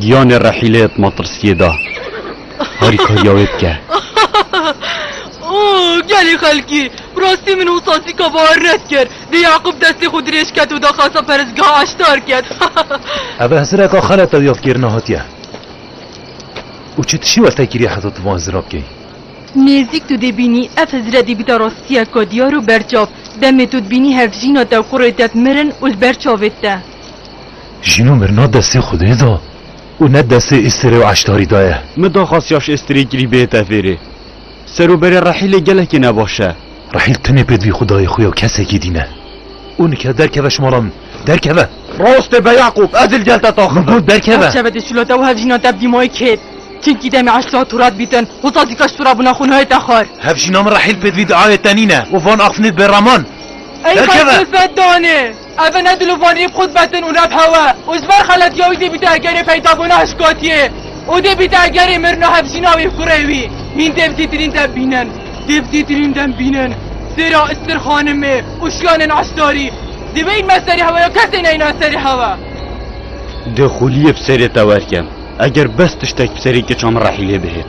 Giyanê rehîlê yê di matirsiyê de harîkariya wê bike. Oh gelê xelkî! Bi rastî min û Sasîka bawer nedikir. Dê Yaqûb destê xwe dirêj ket û daxwasa perestgeha Eştar ket. Ev hizireka xelet ew yadkêrina hatiye. Û çi tişî we fekî rê heta tu van hizira bikey? Nêzîk tu dê bînî ev hizire dê bîta rastiyeka diyar û berçav. Demê tu dibînî hevjîna te û kurê te di mirin û li ber çavê te. Jino mir ne destê Xwedê de û ne destê Îstirê û Eştarî de ye. Mi daxwast yaş Îstirê kirî bê tevêrê. Seroberê Rehîlê gelekî ne baş e. Rehîl tenê pê divî Xwedayê xwe ya kesekî dîne. Û nike derkeve ji mala min. Derkeve! Rast e be Yaqûb, ez li gel te taxim im. Min got derkeve! Derkeve dê şûla te û hev jîna te bi dîmayê kêt. Çimkî demê Eşta turat bîtin, hozat zî kaş tura bûna xwe nayê te xwar. Hev jîna min Rehîl pê divî di awê te nîne û van axfinê di bêraman. Ey xwe sifet danê! Ev e ne dilû van îb xûd betin û ne pewe û ji ber xeletiya wî dê bîte egerê peydabûna hişkatiyê û dê bîte egerê mirina hevjîna wî kurê wî. Hîn dê bi dîtirîn dem bînin. Dê bi dîtirîn dem bînin sêra Istir Xanimê û şiyanên Eştarî. Divê hîn me serê hewe ya kesê neyna serê hewe. Dê xûliyê bi serê te werkem eger bes tiştek bi serê keça min rehî lê bihêt.